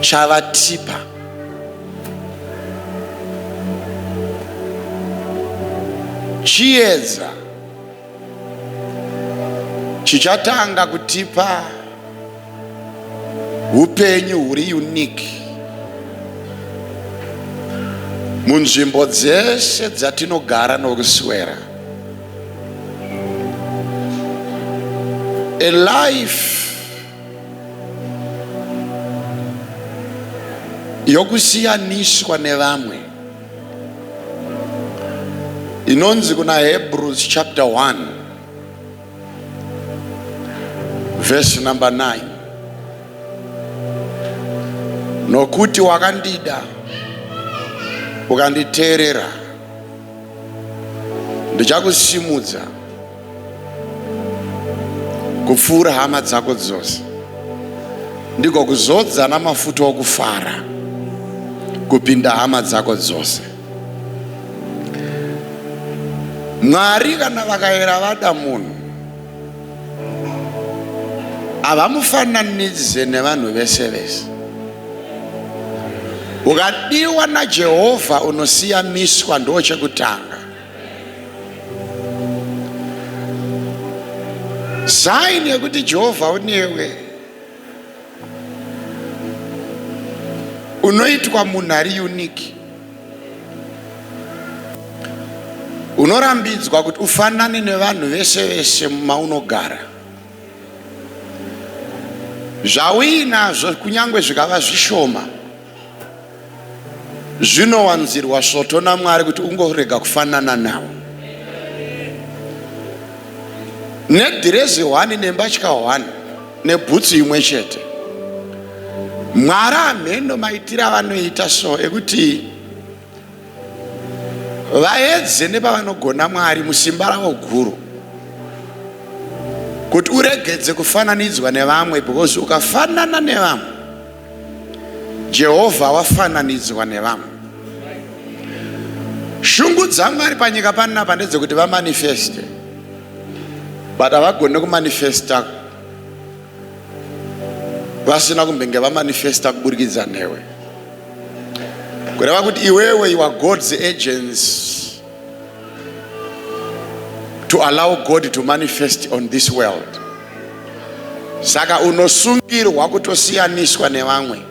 chavatipa chiedza chichatanga kutipa upenyu huri unique munzvimbo dzese dzatinogara nokuswera A life yokusiyaniswa nevamwe inonzi kuna Hebrews chapter 1 verse number 9 nokuti wakandida ukanditeerera ndichakusimudza kupfuura hama dzako dzose ndiko kuzodza namafuta okufara kupinda hama dzako dzose mwari kana vakayera vada munhu havamufananidze nevanhu vese vese ukadiwa najehovha unosiyamiswa ndo chekutanga saini yekuti jehovha unewe unoitwa munhu ari unique unorambidzwa kuti ufanane nevanhu vese vese maunogara zvauinazvo kunyange zvikava zvishoma Zvinowanzirwa svoto naMwari kuti ungorega kufanana nawo. Nedhirezi hwani nembatya hwani nebhutsu imwe chete. Mwari hameno maitire avanoita so ekuti vaedze nepavanogona Mwari musimba ravo guru kuti uregedze kufananidzwa nevamwe because ukafanana nevamwe Jehovha wafananidzwa nevamwe. Shungu dzaMwari panyika panapa ndedzekuti vamanifeste, but havagone kumanifesta vasina kumbenge vamanifesta kuburikidza newe, kureva kuti iwewe you are God's agents. to allow God to manifest on this world. Saka unosungirwa kutosiyaniswa nevamwe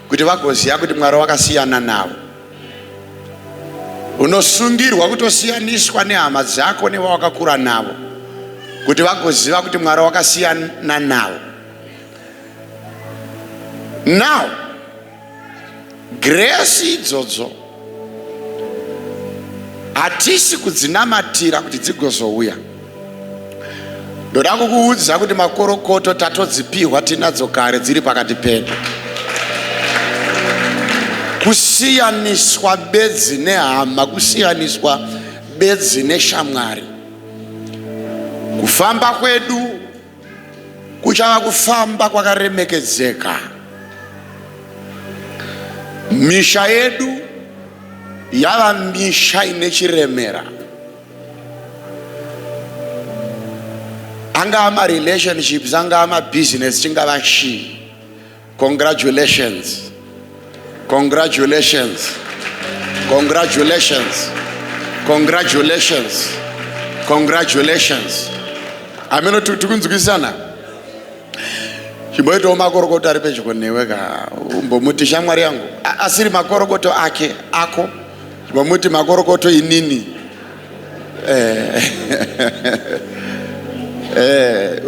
kuti vagoziva kuti Mwari wakasiyana navo. Unosungirwa kutosiyaniswa nehama dzako nevawakakura navo kuti vagoziva kuti Mwari wakasiyana navo. Now Giresi idzodzo hatisi kudzinamatira kuti dzigozouya. Ndoda kukuudza kuti makorokoto tatodzipihwa tinadzo kare dziri pakati pedu. Kusiyaniswa bedzi nehama, kusiyaniswa bedzi neshamwari. Kufamba kwedu Kuchava kufamba kwakaremekedzeka. Misha yedu yava misha ine chiremera. Angaa marelationships, angaa mabusiness, chingava chii. Congratulations. Congratulations. Congratulations. Congratulations. Congratulations. Ameno tikunzwisana. Chimboitawo makorokoto ari pedyo newe ka. Umbomuti shamwari yangu asiri makorokoto ake ako. Chimbomuti makorokoto inini. eh, eh,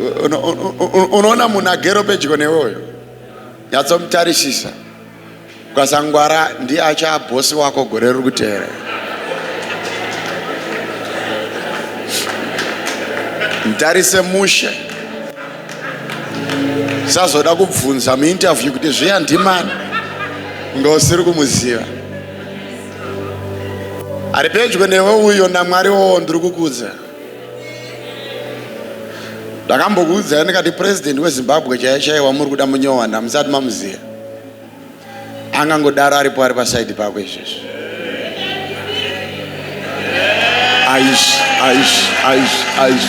unoona munhu agero pedyo newoyo nyatsomutarisisa kwasangwara ndiye achaabhosi wako gore riri kuteera mutarise mushe sazoda kubvunza muinterview kuti zviya ndimani ngausiri kumuziva ari pedyo newe uyo namwari wowo ndiri kukuudza ndakambokuudzai ndikati purezidendi wezimbabwe chaiye chaiye wamuri kuda munyowana musati mamuziva angangodaro aripo ari pasaidi pako izvezvi aish aish aish aish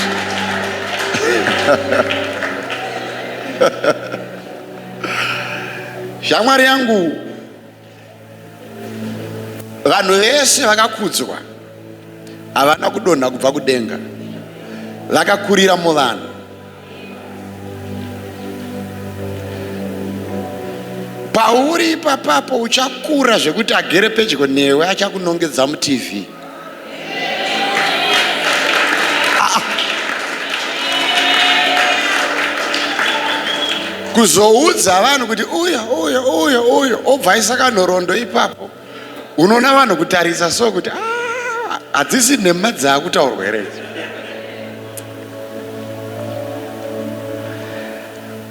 shamwari yangu Vanhu vese vakakudzwa havana kudonha kubva kudenga, vakakurira muvanhu. Pauri ipapapo uchakura zvekuti agere pedyo newe achakunongedza muTV. kuzoudza vanhu kuti uyo uyo uyo uyo obva aisa kanhorondo ipapo unoona vanhu kutarisa so kuti ah, hadzisi nhema dzaakutaurwa here idzi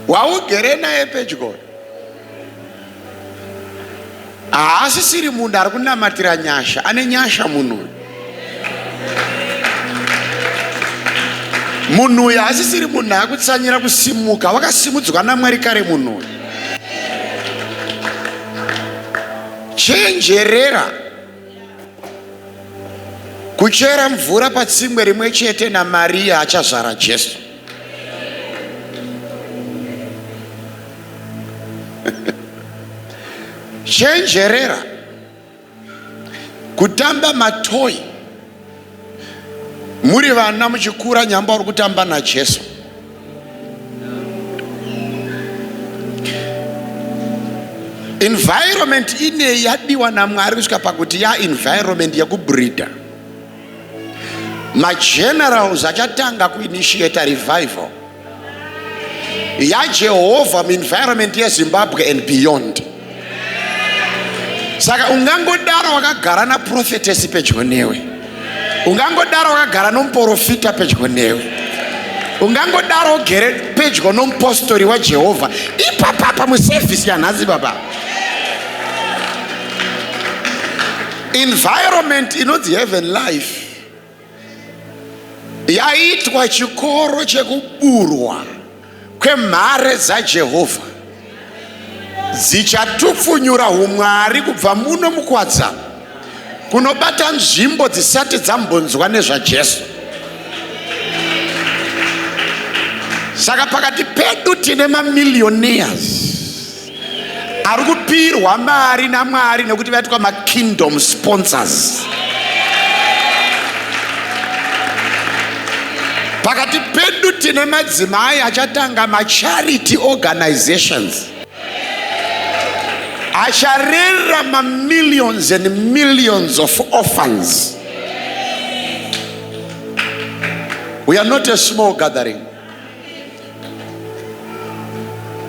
waugere naye pedyo haasisiri munhu ari kunamatira nyasha ane nyasha munhu uyu munhu uyu haasisiri munhu akutsanyira kusimuka wakasimudzwa namwari kare munhu uyu chenjerera Kuchera mvura patsimwe rimwe chete naMaria achazvara Jesu. Chenjerera kutamba matoyi muri vana muchikura nyamba uri kutamba najesu environment inei yadiwa namwari kusvika pakuti ya environment yekubreeder magenerals achatanga kuinitiate revival yajehovha muenvironment yezimbabwe and beyond saka ungangodaro wakagara naprofetesi pedyo newe ungangodaro wakagara nomuporofita pedyo newe ungangodaro ugere pedyo nomupostori wajehovha ipapapa muservhisi yanhasi baba environment inonzi heaven life yaitwa chikoro chekuburwa kwemhare dzaJehovha dzichatupfunyura humwari kubva muno mukwadza kunobata nzvimbo dzisati dzambonzwa nezvaJesu. Saka pakati pedu tine mamillionaires ari kupirwa mari namwari nekuti vaitwa makingdom sponsors pakati pedu tine madzimai achatanga macharity organizations acharera mamillions and millions of orphans we are not a small gathering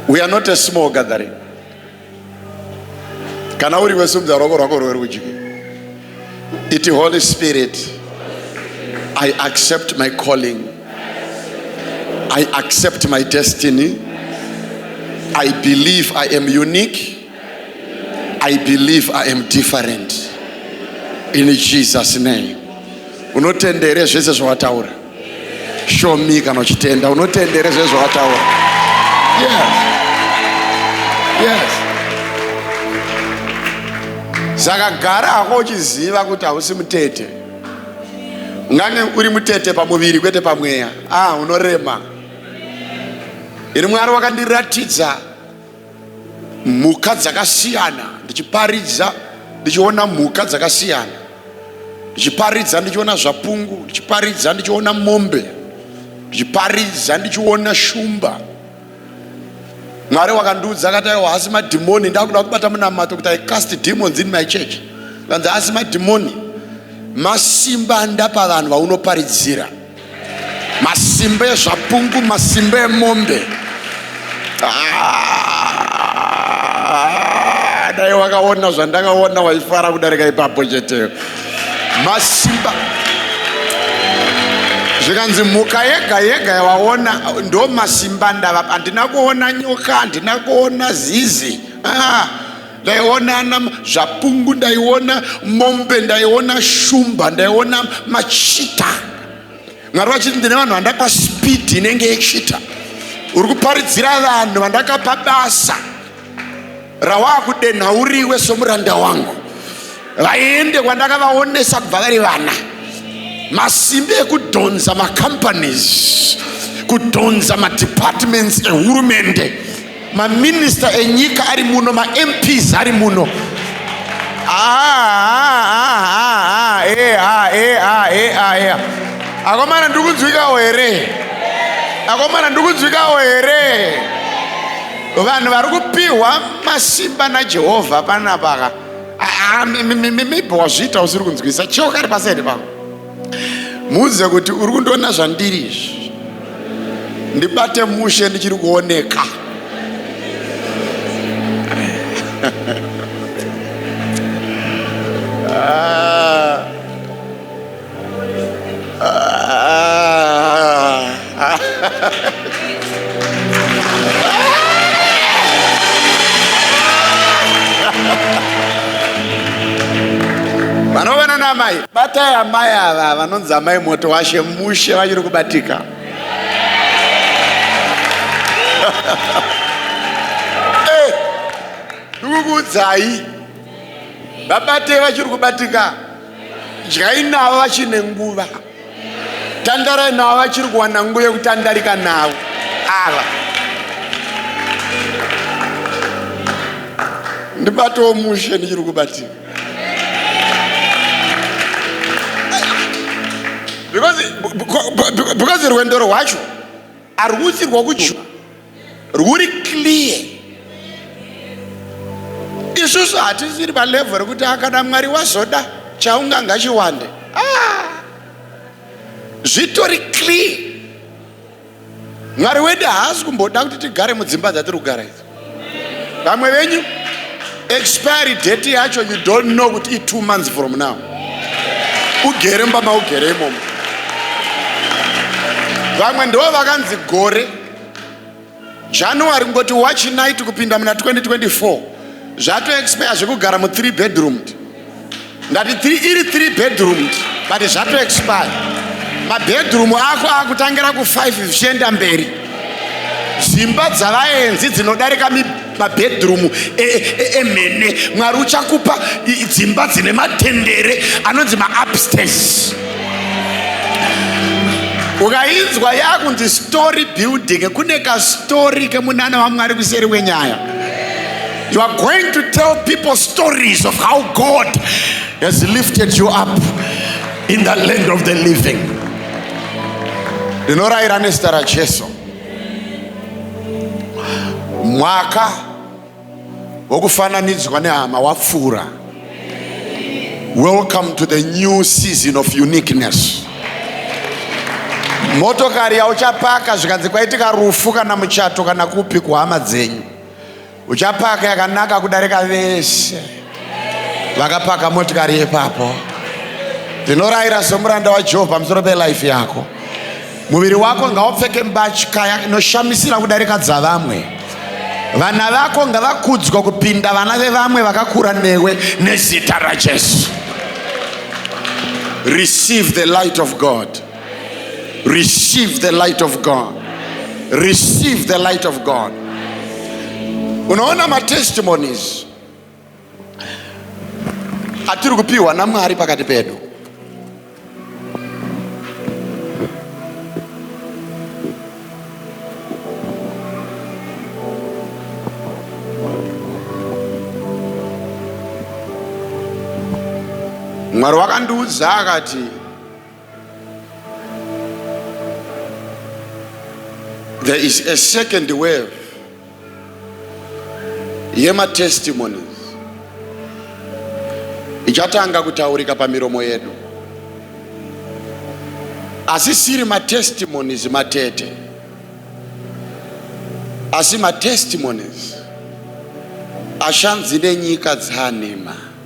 We are not a small gathering. Kana uri wesumudza ruoko rwako rwerudyi. Iti Holy Spirit, I accept my calling. I accept my destiny. I believe I am unique. I believe I am different. In Jesus name. Unotendere zvese zvawataura. show me kana uchitenda unotendere zve zvawataura yes yes saka gara hako uchiziva kuti hausi mutete ungange uri mutete pamuviri kwete pamweya ah unorema ini mwari wakandiratidza mhuka dzakasiyana ndichiparidza ndichiona mhuka dzakasiyana ndichiparidza ndichiona zvapungu ndichiparidza ndichiona mombe ndichiparidza ndichiona shumba mwari wakandiudza akati aiwa hasi madhimoni ndakuda kubata munamato kuti i cast demons in my church kanzi hasi madhimoni masimba andapa vanhu vaunoparidzira masimba ezvapungu masimba emombe ah, dai wakaona zvandakaona waifara kudarika ipapo cheteyo masimba zvikanzi mhuka yega yega yawaona ndo masimba ndava handina kuona nyoka handina kuona zizi ah. ndaiona ana zvapungu ndaiona mombe ndaiona shumba ndaiona machita mwari vachiti ndine vanhu vandapa spidi inenge yechita uri kuparidzira vanhu vandakapa basa rawaakudenha uriwe somuranda wangu vaende kwandakavaonesa kubva vari vana masimbi ekudhonza macompanies kudhonza madepartments ehurumende maminista enyika ari muno mamps ari muno akomana ndikunzwikawo here akomana ndikunzwikawo here vanhu vari kupiwa masimba najehovha panapaka mibho wazviita usiri kunzwisa cheo kari pasaidi pako Muudze kuti uri kundiona zvandiri izvi. Ndibate mushe ndichiri kuoneka. Ah. Ah. vanovana naamai batai amai ava vanonzi amai moto washe mushe vachiri kubatika eh, ndikukuudzai vabatei vachiri kubatika dyai navo vachine nguva tandarai navo vachiri kuwana nguva yekutandarika navo ava ndibatowo mushe ndichiri kubatika because rwendo rwacho Arwusi rwakujuva rwuri clear. Isusu hatisiri palevel rekuti akada Mwari wazoda chaunga ngachiwande. Ah! Zvitori clear. Mwari wedu haasi kumboda kuti tigare mudzimba dzatiri kugara idzi. vamwe venyu expiry date yacho you don't know kuti i two months from now ugere mba maugere imomo vamwe ndo vakanzi gore january kungoti watch night kupinda muna 2024 zvatoexpire zvekugara mu3 bedroom ndati iri three bedroom but zvato expire mabedroom ako akutangira kufive zvichienda mberi dzimba dzavaenzi dzinodarika mabedroom e, e, e, emene mwari uchakupa dzimba dzine matendere anonzi maupstairs ukainzwa yakunzi story building kune kastori kemunana wamwari kuseri wenyaya You are going to tell people stories of how God has lifted you up in the land of the living. Ndinoraira nezita raJesu. Mwaka wokufananidzwa nehama wapfuura. Welcome to the new season of uniqueness. Motokari yauchapaka zvikanzi kwaitika rufu kana muchato kana kupi kuhama dzenyu. uchapaka yakanaka kudarika vese vakapaka motikari yepapo ndinorayira somuranda wajehovha pamusoro pelife yako muviri wako ngaupfeke mbatya inoshamisira kudarika dzavamwe vana vako ngavakudzwa kupinda vana vevamwe vakakura newe nezita rajesu receive the light of god receive the light of god receive the light of god unoona matestimonies atiri kupiwa namwari pakati pedu mwari wakandiudza akati There is a second wave yematestimonies ichatanga kutaurika pamiromo yedu, asisiri matestimonies matete, asi matestimonies ashanzi nenyika dzanhema.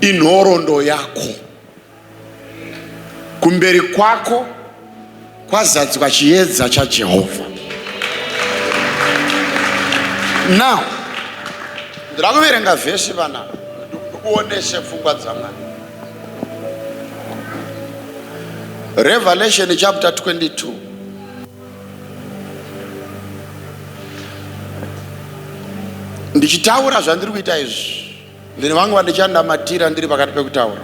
inhorondo yako kumberi kwako kwazadzwa chiedza chajehovha now ndira kuverenga vhesi vana ndikuonese pfungwa dzamwana revelation chapter 22 ndichitaura zvandiri kuita izvi ndine vangu vandichandamatira ndiri pakati pekutaura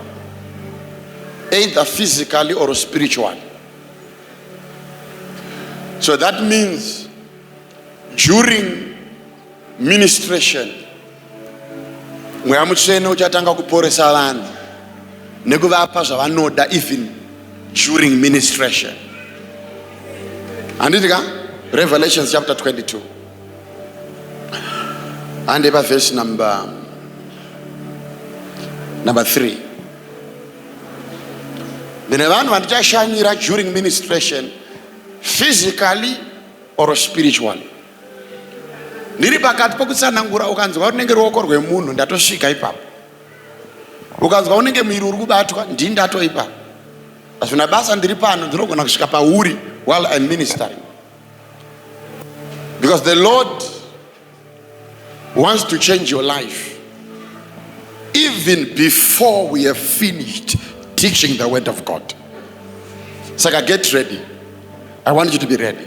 either physically or spiritually so that means during ministration mweya mutsvene uchatanga kuporesa vanhu nekuvapa zvavanoda even during ministration handiti ka revelations chapter 22 hande pavhesi number number 3 ndine vanhu vandichashanyira during ministration physically or spiritually ndiri pakati pokutsanangura ukanzwa runenge ruoko rwemunhu ndatosvika ipapo ukanzwa unenge muiri uri kubatwa ndii ndato ipapo hazvina basa ndiri pano ndinogona kusvika pauri while im ministering because the lord wants to change your life even before we have finished teaching the word of god saka get ready i want you to be ready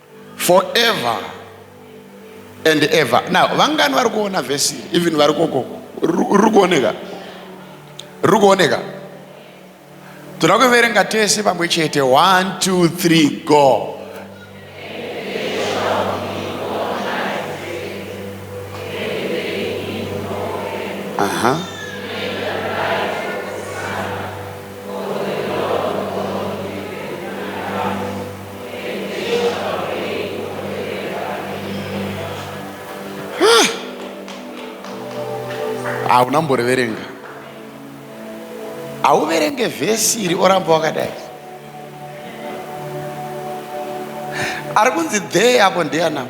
forever and ever now vangani vari kuona vhesi iri even vari koko riri kuoneka riri kuoneka toda kuverenga tese pamwe chete one two three go aha uh -huh. hauna mboreverenga hauverenge vhesi iri oramba wakadai ari kunzi dhee apo ndeyanama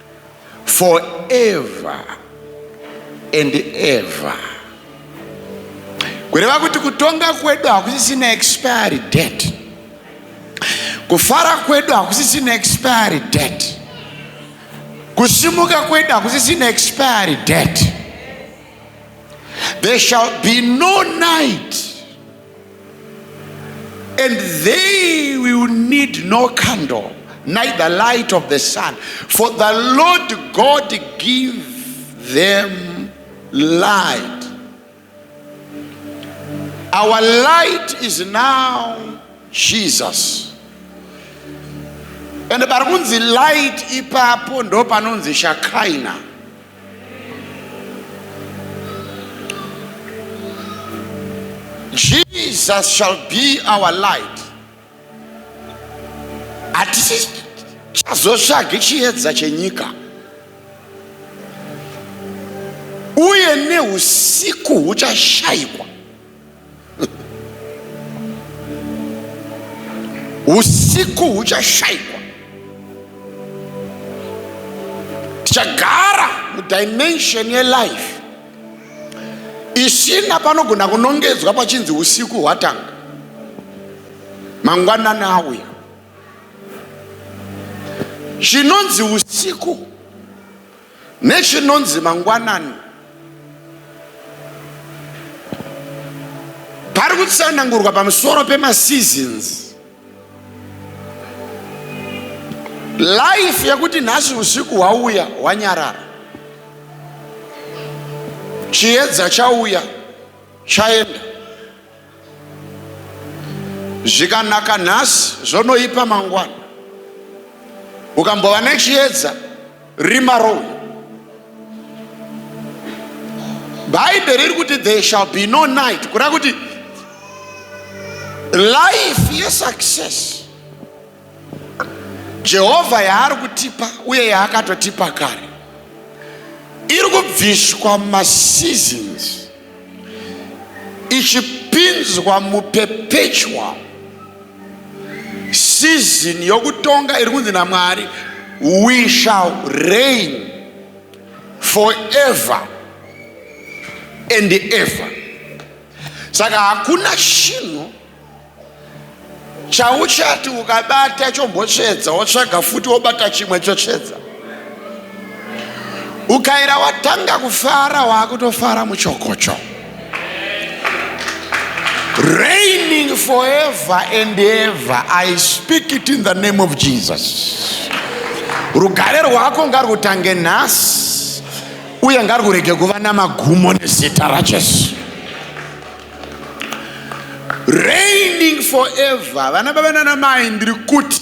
forever and ever kureva kuti kutonga kwedu hakusisina expiry date kufara kwedu hakusisina expiry date kusimuka kwedu hakusisina expiry date there shall be no night and they will need no candle neither light of the sun for the lord god give them light our light is now jesus and pari kunzi light ipapo ndo panonzi shakaina Jesus shall be our light. Hatisi chazotsvagi chiedza chenyika. Uye neusiku huchashaikwa. usiku huchashaikwa tichagara mudimension yelife isina panogona kunongedzwa pachinzi usiku hwatanga mangwanani auya chinonzi usiku Nechinonzi mangwanani pari kutsanangurwa pamusoro pemaseasons life yekuti nhasi usiku hwauya hwanyarara chiedza chauya chaenda zvikanaka nhasi zvonoipa mangwana ukambova nechiedza rima rou bhaibheri riri kuti there shall be no night kureva kuti life yesuccess Jehovha yaari kutipa uye yaakatotipa kare iri kubviswa maseasons ichipinzwa muperpetual season yokutonga iri kunzi namwari we shall reign forever and ever saka hakuna chinhu chauchati ukabata chombotsvedza wotsvaga futi wobata chimwe chotsvedza ukaira watanga kufara waakutofara muchokocho reigning forever and ever i speak it in the name of jesus rugare rwako ngarutange nhasi uye ngarwurege kuva namagumo nezita rajesu reigning forever vana baba nana mai ndiri kuti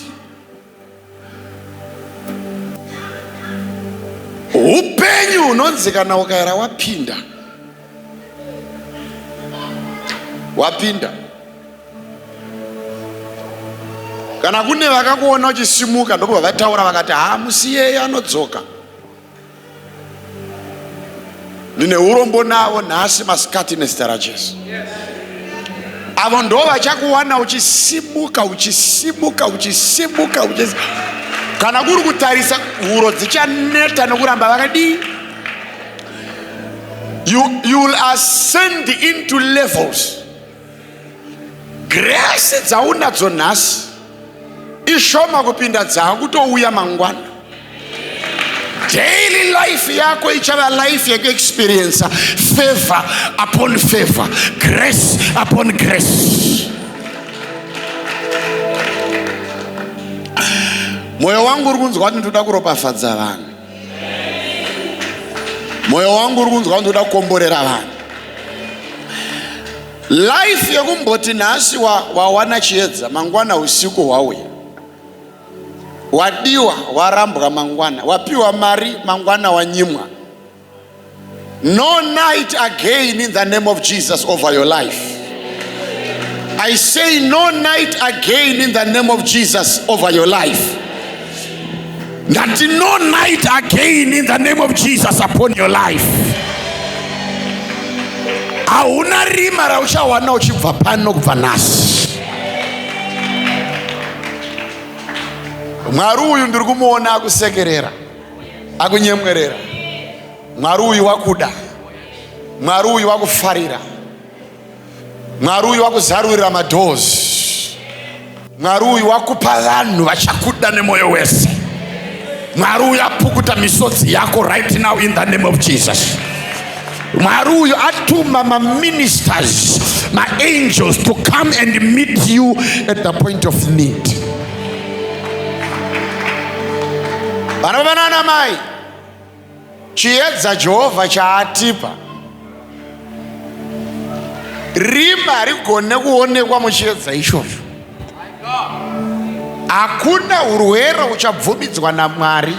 upenyu hunonzi kana ukaera wapinda wapinda kana kune vakakuona uchisimuka ndokubva vataura vakati haa musiyeyi anodzoka ndine urombo navo nhasi masikati nezita rajesu avo ndo vachakuwana uchisimuka uchisimuka uchisimuka uchis kana kuri kutarisa huro dzichaneta nokuramba vakadii you, you will ascend into levels Grace dzaunadzo nhasi ishoma kupinda dzaakutouya mangwana. Daily life yako ichava life yekuexperiensa favor upon favor, grace upon grace. Moyo wangu uri kunzwa kuti ndoda kuropafadza vanhu. mwoyo wangu uri kunzwa ndoda kukomborera vanhu life yekumboti nhasi wawana wa chiedza mangwana usiku hwauya wadiwa warambwa mangwana wapiwa mari mangwana wanyimwa No night again in the name of Jesus over your life. I say no night again in the name of Jesus over your life. That no night again in the name of Jesus upon your life. hauna rima rauchawana uchibva pano kubva nhasi mwari uyu ndiri kumuona akusekerera akunyemwerera mwari uyu wakuda mwari uyu wakufarira mwari uyu wakuzarurira madhozi mwari uyu wakupa vanhu vachakuda nemwoyo wese mwari uyu apukuta misodzi yako right now in the name of jesus mwari uyu atuma maministers maangels to come and meet you at the point of need vanababa nana mai chiedza jehovha chaatipa rima harigone kuonekwa muchiedza ichocho hakuna urwere uchabvumidzwa namwari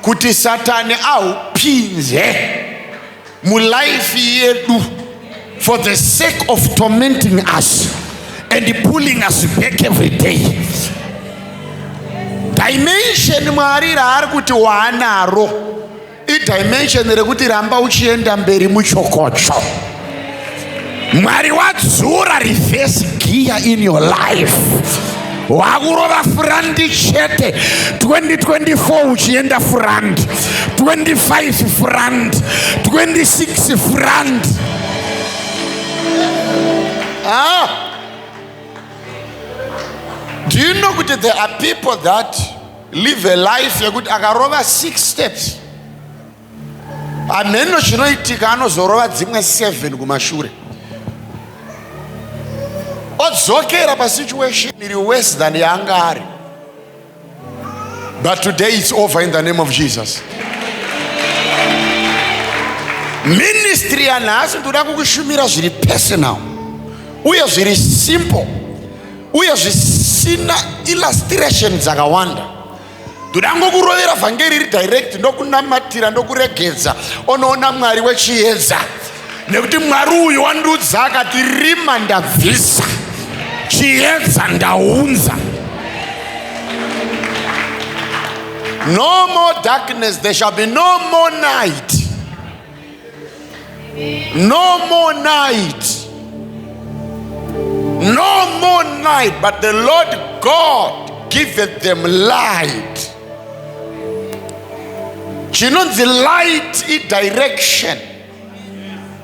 kuti satani ahupinze mulife yedu for the sake of tormenting us and pulling us back every day dimension mwari raari kuti waanaro idimension rekuti ramba uchienda mberi muchokocho mwari wadzura reverse gear in your life wakurova furandi chete 2024 uchienda furandi 25 furandi 26 furandi ah. do you know kuti there are people that live a life yekuti akarova six steps Hameno zvinoitika anozorova dzimwe 7 kumashure. Odzokera pa situation iri worse than yaanga ari. But today it's over in the name of Jesus. Ministry yanhasi ndoda kukushumira zviri personal uye zviri simple uye zvisina illustration dzakawanda. ndoda ngokurovera vhangeri iri direct ndokunamatira ndokuregedza onoona mwari wechiedza nekuti mwari uyu wandiudza akati rima ndabvisa chiedza ndaunza no more darkness there shall be no more night No more night. No more night, but the Lord God giveth them light. chinonzi light idirection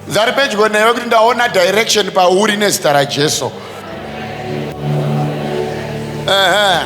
dzari pedyo newe kuti ndaona direction pauri nezita rajesu uh -huh.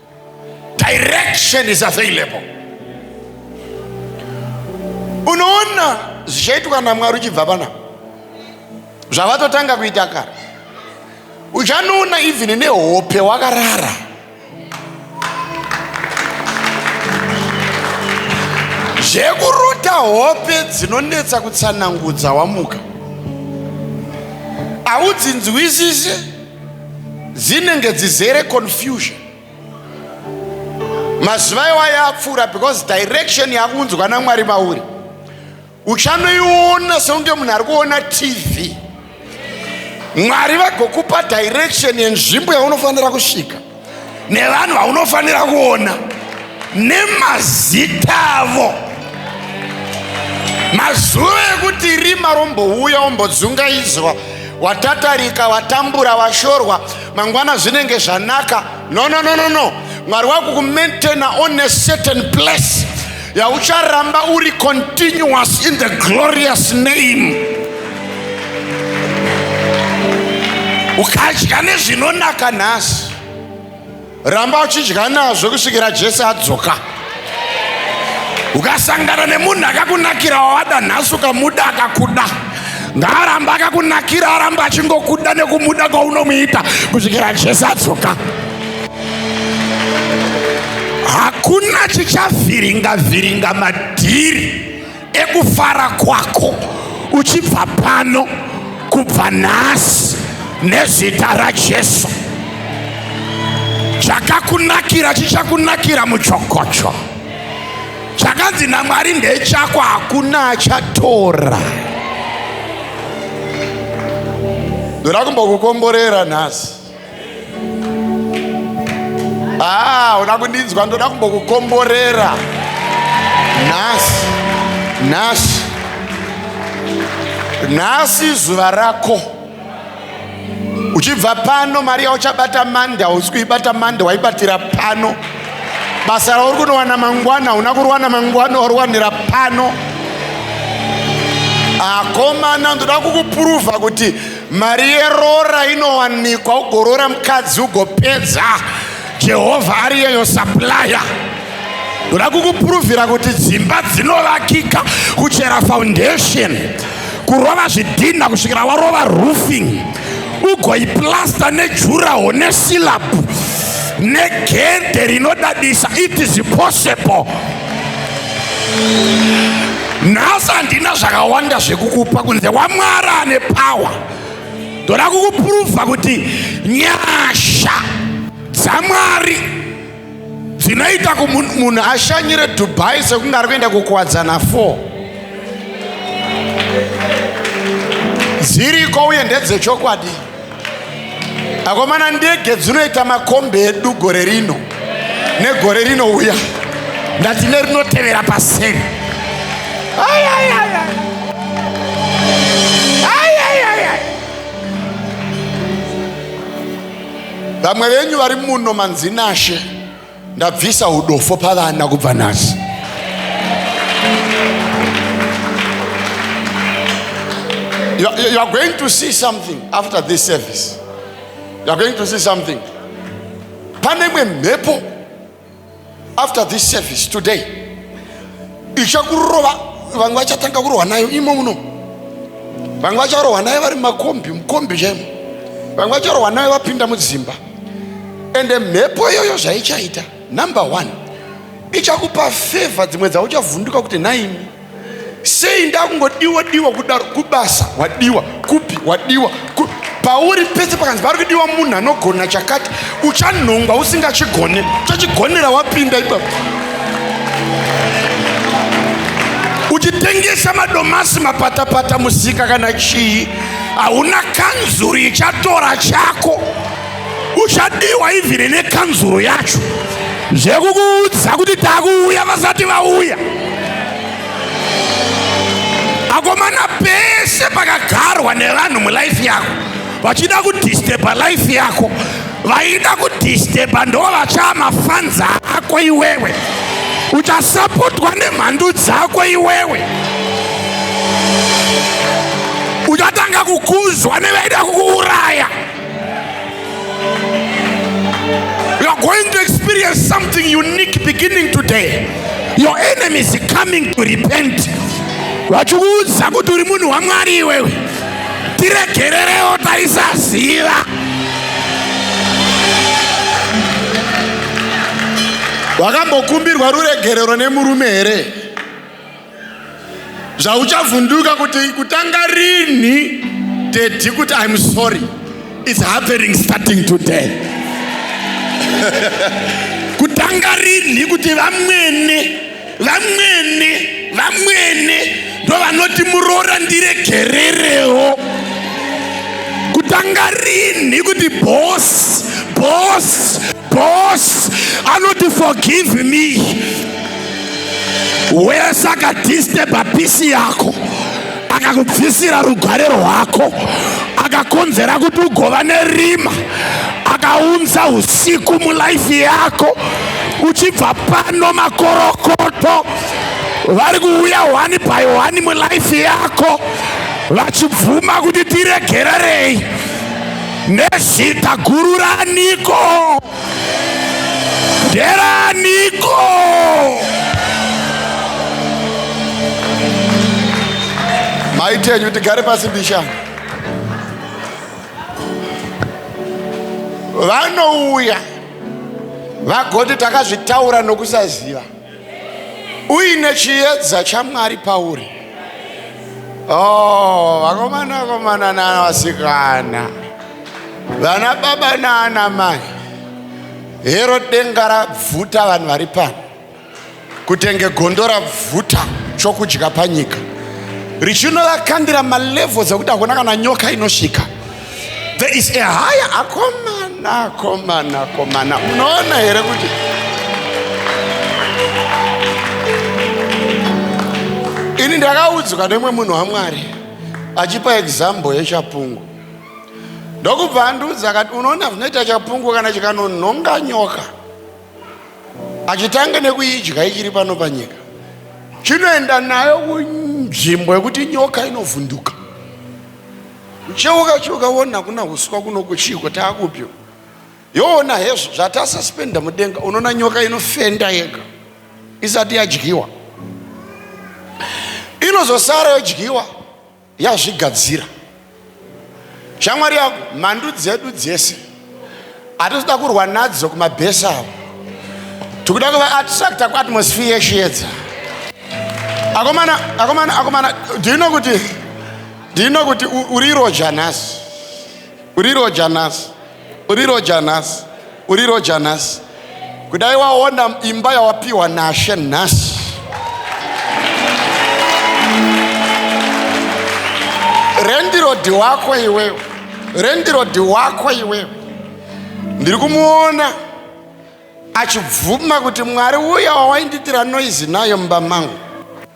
direction is available unoona zvichaitwa namwari uchibva pana zvavatotanga kuita kare uchanoona even nehope wakarara zvekurota hope dzinonetsa kutsanangudza wamuka haudzinzwisise dzinenge dzizere confusion mazuva iwa yapfuura because direction yakunzwa namwari mauri uchanoiona sekunge munhu ari kuona tv mwari vagokupa direction yenzvimbo yaunofanira kusvika nevanhu vaunofanira kuona nemazita avo mazuva ekuti rima rombouya ombodzungaidzwa watatarika watambura washorwa mangwana zvinenge zvanaka no no no no no mwari wakukumaintaina on a certain place ya ucharamba uri continuous in the glorious name ukadya nezvinonaka nhasi ramba uchidya nazvo kusvikira jesu adzoka ukasangana nemunhu akakunakira wawada nhasi ukamuda akakuda ngaaramba akakunakira aramba achingokuda nekumuda kwaunomuita kusvikira jesu adzoka hakuna chichavhiringa vhiringa madhiri ekufara kwako uchibva pano kubva nhasi nezita rajesu chakakunakira chichakunakira muchokocho chakanzi namwari ndechako hakuna achatora ndoda kumbokukomborera nhasi Ah, uda kundinzwa ndoda kumbokukomborera nhasi nhasi nhasi zuva rako uchibva pano mari yauchabata mande hausi kuibata mande waibatira pano basa rauri kunowana mangwana hauna kurowana mangwana waruwanira pano akomana ndoda kukupuruvha kuti mari yeroora inowanikwa ugoroora mukadzi ugopedza jehovha ari yeyo saplaya ndoda kukupuruvhira kuti dzimba dzinovakika kuchera foundation kurova zvidhinha kusvikira warova roofing ugoiplasta nejuraho nesilabu negedhe rinodadisa it is possible nhasi handina zvakawanda zvekukupa kunze wamwari ane pawa ndoda kukupuruvha kuti nyasha dzamwari dzinoita kumunhu ashanyire dubai sekunge ari kuenda kukuwadzana four dziriko uye ndedzechokwadi akomana ndege dzinoita makombi edu gore rino negore rinouya ndati nerinotevera paseri vamwe venyu vari muno manzinashe ndabvisa udofo pavana kubva nhasi you, you are going to see something after this service you are going to see something pane imwe mhepo after this service today ichakurova vamwe vachatanga kurohwa nayo imo muno vamwe vacharohwa nayo vari mumakombi mukombi chaimo vamwe vacharohwa nayo vapinda mudzimba ende mhepo iyoyo zvaichaita number one ichakupa fevha dzimwe dzauchavhunduka kuti nhaimi sei ndakungodiwa diwa kudaro kubasa wadiwa kupi wadiwa pauri pese pakanzi pari kudiwa munhu anogona chakati uchanhongwa usingachigone uchachigonera wapinda ipapo uchitengesa madomasi mapatapata musika kana chii hauna kanzuru ichatora chako uchadiwa ivhiri nekanzuru yacho zvekukuudza kuti takuuya vasati vauya akomana pese pakagarwa nevanhu mulife yako vachida kudisteba life yako vaida kudisteba ndo vachaa mafanza ako iwewe uchasapotwa nemhandu dzako iwewe uchatanga kukuzwa nevaida kukuuraya You are going to experience something unique beginning today. Your enemy is coming to repent. Vachikuudza kuti uri munhu waMwari iwewe. Tiregererewo taisaziva. Wakambokumbirwa ruregerero nemurume here? zvauchavhunduka kuti kutanga rinhi dedi kuti im sorry its happening starting today kutanga rinhi kuti vamwene vamwene vamwene ndovanoti muroora ndiregererewo kutanga rinhi kuti bos bos bos anoti forgive me wese akadisteba pisi yako akakubvisira rugare rwako akakonzera kuti ugova nerima akaunza usiku mulaifi yako uchibva pano makorokoto vari kuuya wani by wani mulaifi yako vachibvuma kuti tiregererei nezita guru raniko nderaniko maitenyu kuti gare pasi mbishana vanouya vagoti takazvitaura nokusaziva uine chiedza chamwari pauri oh, vakomana vakomana nana vasikana vana baba naana mai hero denga rabvuta vanhu vari pano kutenge gondo rabvuta chokudya panyika richinovakandira malevels ekuti hakuna kana nyoka inosvika there is a higher akomana akomana akomana munoona here kuti ini ndakaudzwa nemwe munhu wamwari achipa example yechapungu ndokubva andiudza akati unoona zvinoita chapungu kana chikanonhonga nyoka achitange nekuidya ichiri pano panyika chinoenda nayo kunzvimbo yekuti nyoka inovhunduka ucheuka cheuka wona kuna huswa kunoku chiiko taakupyo yoona hezvo zvatasuspenda mudenga unoona nyoka inofenda yega isati yadyiwa inozosara yodyiwa yazvigadzira shamwari yako mhandu dzedu dzese hatisi kuda kurwa nadzo kumabhesi avo tikuda kuva attracta kuatmosphere yeshiedza akomana akomana akomana ndino kuti ndino kuti uriroja nhasi uriroja nhasi uriroja nhasi uriroja nhasi kudai waona imba yawapiwa nashe nhasi rendirodi wako iwewe rendirodi wako iwewe ndiri kumuona achibvuma kuti mwari uya wawainditira noizi nayo mumba mangu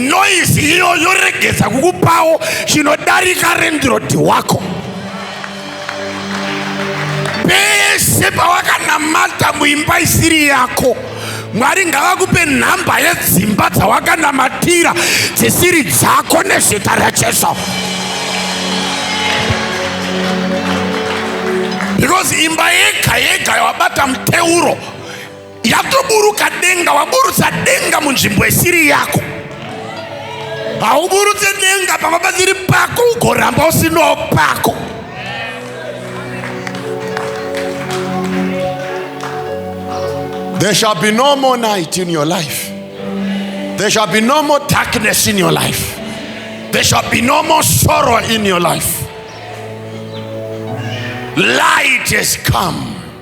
noise iyo yoregedza kukupawo chinodarika rendirodi wako pese pawakanamata muimba isiri yako mwari ngavakupe nhamba yedzimba dzawakanamatira dzisiri dzako nezita rajesu because imba yega yega yawabata muteuro yatoburuka denga waburutsa denga munzvimbo isiri yako hauburutse denga pamba pasiri pako ugoramba usinawo pako There shall be no more night in your life. There shall be no more darkness in your life. There shall be no more sorrow in your life. Light has come.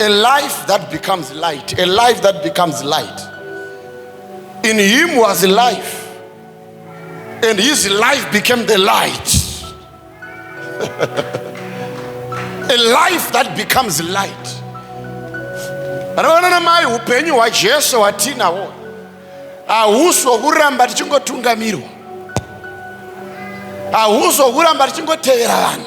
A life that becomes light, a life that becomes light. In him was life, and his life became the light. a life that becomes light. Rona mai upenyu hwaJesu hwatinawo hahusi hwokuramba tichingotungamirwa, hahusi hwokuramba tichingotevera vanhu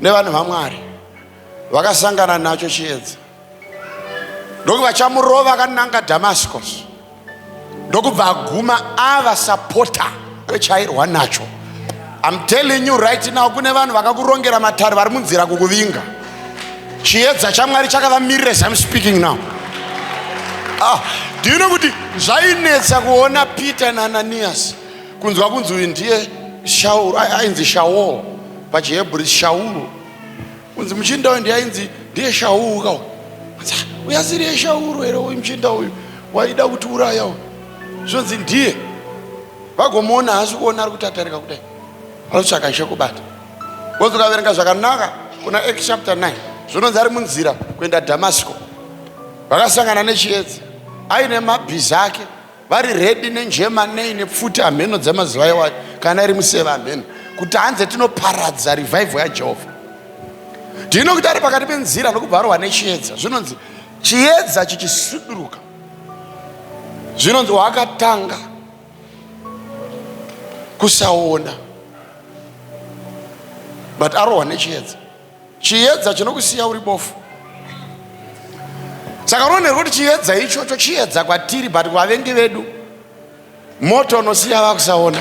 nevanhu vamwari vakasangana nacho chiedza ndokuti vachamurova akananga damascus ndokubva aguma ava sapota rechairwa nacho im telling you right now kune vanhu vakakurongera matare vari munzira kukuvinga chiedza chamwari chakavamirira as im speaking now ah, ndino kuti zvainetsa kuona peter naananiyasi kunzwa kunzi uyu ndiye shauru ai- ainzi shaul pachihebri shauru kunzi muchinda uyu ndiye ainzi ndiye shauru ka uyu Anzi, "Ah, uyu asiriye shauru here uyu muchinda uyu waida kuti uraya uyu zvonzi ndiye vagomuona haasi kuona ari kuti atarika kudai anotsvaka chekubata wonzi ukaverenga zvakanaka kuna acts chapter 9 zvinonzi ari munzira kuenda damasco vakasangana nechiedza aine mabhiza ake vari redi nenjema nei nepfuti hamheno dzemazuva iwayo kana iri museva hamheno kuti hanze tinoparadza revivho yajehovha ndino kuti ari pakati penzira nokubvarwa nechiedza zvinonzi chiedza chichisuduruka zvinonzi wakatanga kusaona but arohwa nechiedza Chiedza chinokusiya uri bofu. Saka unoonera kuti chiedza ichocho chiedza kwatiri but kuvavengi vedu moto unosiya vakusaona.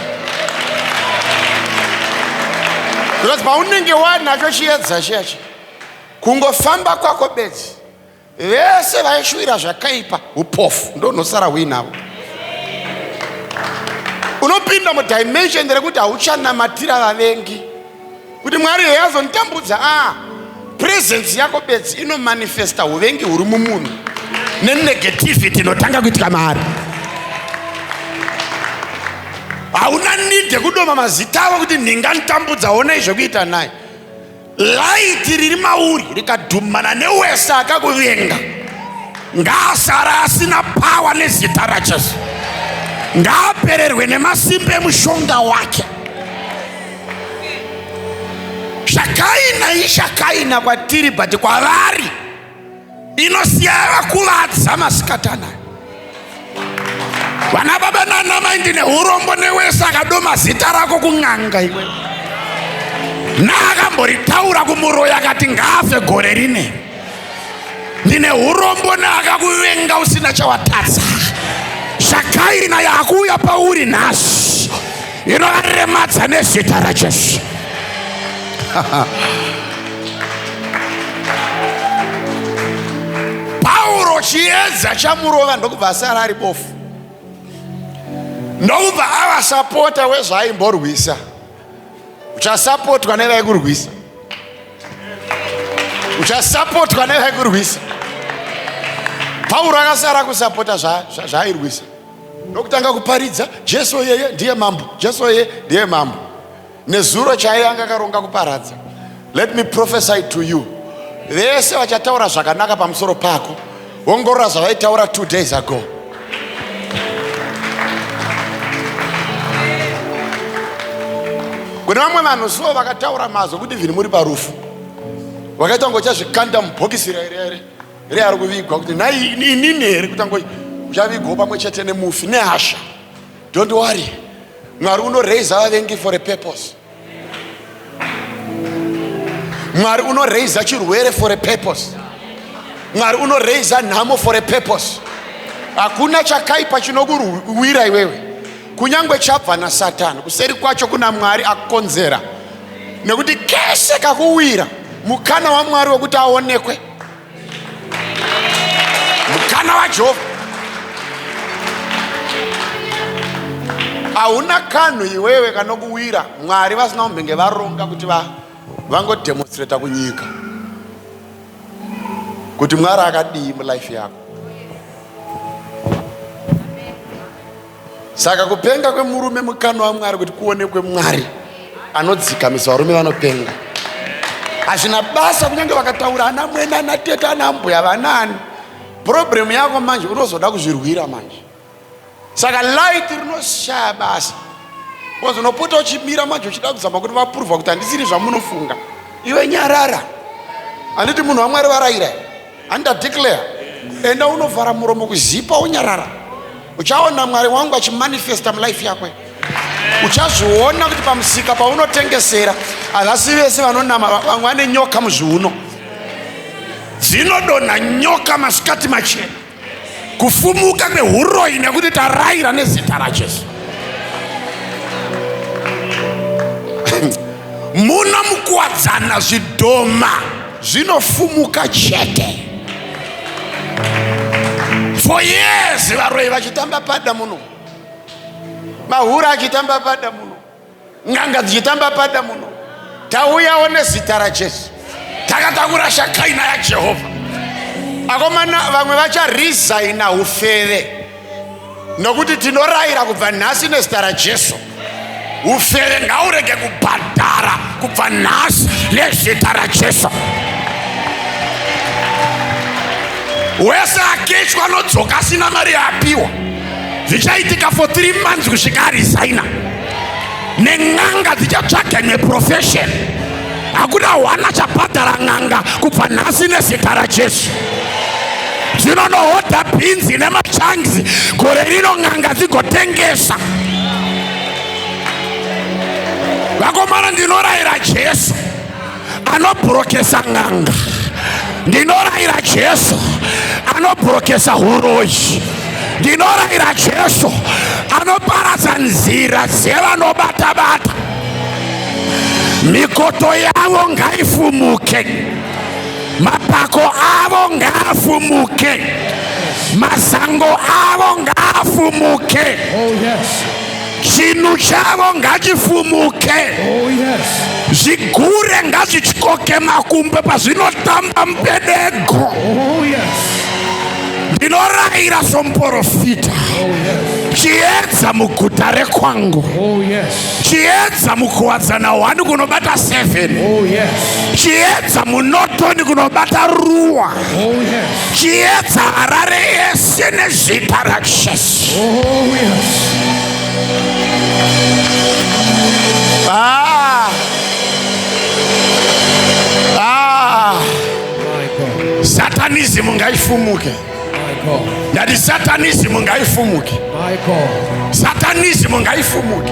Because paunenge wanacho chiedza chiyachi kungofamba kwako bedzi vese vaishuvira zvakaipa upofu ndonosara huinavo unopinda mudimension rekuti hauchanamatira vavengi kuti mwari heye azonitambudza a presence yako bedzi inomanifesta uvengi huri mumunhu nenegativity inotanga kuitika maari hauna need yekudoma mazita avo kuti ndinganitambudza onai zvekuita naye Laiti riri mauri rikadhumana newese akakuvenga ngaasara asina pawa nezita raJesu. Ngaapererwe nemasimba emushonga wake. Zvakaina ishakaina kwatiri but kwavari inosiya yakuvadza masikatana vana baba nana mai ndine urombo newese akadoma zita rako kun'anga iwe naakamboritaura kumuroyi akati ngaafe gore rine ndine urombo neakakuvenga usina chawatadza zvakairi naye akuuya pauri nhasi inovaremadza nezita rajesu pauro chiedza chamurova ndokubva asara ari bofu ndokubva ava sapota wezvaaimborwisa uchasapotwa nevaikurwisa uchasapotwa nevaikurwisa pauro akasara kusapota zvaairwisa zva, zva ndokutanga kuparidza jesu yeye ndiye mambo jesu yeye ndiye mambo nezuro chaiye anga akaronga kuparadza let me prophesy to you vese vachataura zvakanaka pamusoro pako ongorora zvavaitaura two days ago kune vamwe vanhu so vakataura mazwi kuti vhini muri parufu vakaita kunge uchazvikanda mubhokisi rairere here ari kuvigwa kuti nhai inini here kutanga uchavigwawo pamwe chete nemufi nehasha don't worry mwari unoraise vavengi for a purpose mwari unoraise chirwere for a purpose mwari unoraise nhamo for a purpose hakuna chakaipa chinokuwira iwewe kunyange chabva nasatani kuseri kwacho kuna mwari akukonzera nekuti kese kakuwira mukana wamwari wekuti aonekwe mukana wajehovha hauna kanhu iwewe kanokuwira mwari vasina kumbenge varonga kuti vangodemonstrata kunyika kuti mwari akadii mulife yako saka kupenga kwemurume mukano wamwari kuti kuonekwe mwari anodzikamisa varume vanopenga hazvina basa kunyange vakataura ana mwene ana tete ana mbuya vanaani purobhuremu yako manje unozoda kuzvirwira manje saka light rinoshaya basa bcause unopota uchimira manje uchida kuzama kuti vapuruvha kuti handisiri zvamunofunga iwe nyarara handiti munhu wamwari varayira handa declare enda unovhara muromo kuzipa unyarara uchaona mwari wangu achimanifesta mulife yakwe uchazviona kuti pamusika paunotengesera havasi vese vanonama vamwe vane nyoka muzviuno dzinodonha nyoka masikati machena kufumuka kwehuroyi nekuti taraira nezita rajesu muno mukuwadzana zvidhoma zvinofumuka chete for years varoyi vachitamba pada muno mahura achitamba pada muno n'anga dzichitamba pada muno tauyawo nezita rajesu takatakura shakaina yajehovha akomana vamwe vacharesigna ufeve nokuti tinorayira kubva nhasi nezita rajesu ufere ngaurege kubhadhara kubva nhasi nezita rajesu wese akechwa anodzoka asina mari yaapiwa zvichaitika for 3 months kusvika arisaina nen'anga dzichatsvage neprofession hakuna hwana chabhadhara n'anga kubva nhasi nezita rajesu dzinonohodha bhinzi nemachanzi gore rino n'anga dzigotengesa vakomana ndinorayira jesu anobrokesa n'anga ndinorayira jesu anobrokesa huroyi ndinorayira jesu anoparadza nzira dzevanobatabata mikoto yavo ngaifumuke mapako avo ngaafumuke masango avo ngaafumuke oh, yes. chinhu chavo ngachifumuke oh, zvigure ngazvityoke makumbe pazvinotamba mupedego oh, ndinorayira somuporofita oh, chiedza muguta rekwangu chiedza mukuwadzana hwani kunobata 7 chiedza munotoni kunobata ruwa chiedza harare yese nezvita rajesu Oh, yes. Ah. Ah. Satanism ngaifumuke. Ndati satanism ngaifumuke. Satanism ngaifumuke.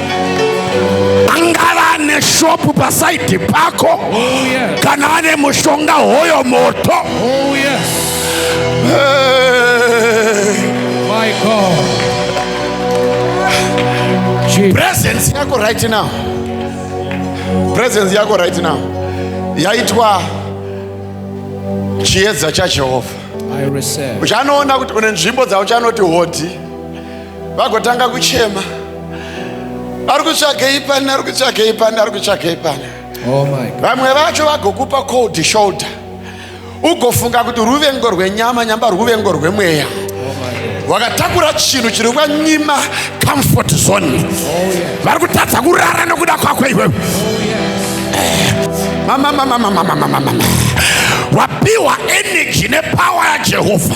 angava ane shopu pasaidi pako oh, yes. kana ane mushonga hoyo moto oh, yes. hey. presence yako right now presence yako right now yaitwa chiedza chajehovha uchanoona kuti une nzvimbo dzauchanoti hodhi vagotanga kuchema ari kutsvagei pani ari kutsvagei pani ari kutsvagei pani oh vamwe vacho vagokupa cold shoulder ugofunga kuti ruvengo rwenyama nyamba ruvengo rwemweya oh wakatakura chinhu chiri kwanyima comfort zone oh, vari kutadza kurara nokuda kwako iwewe oh, eh, mamamamamamamamamama wapiwa energy nepower yajehovha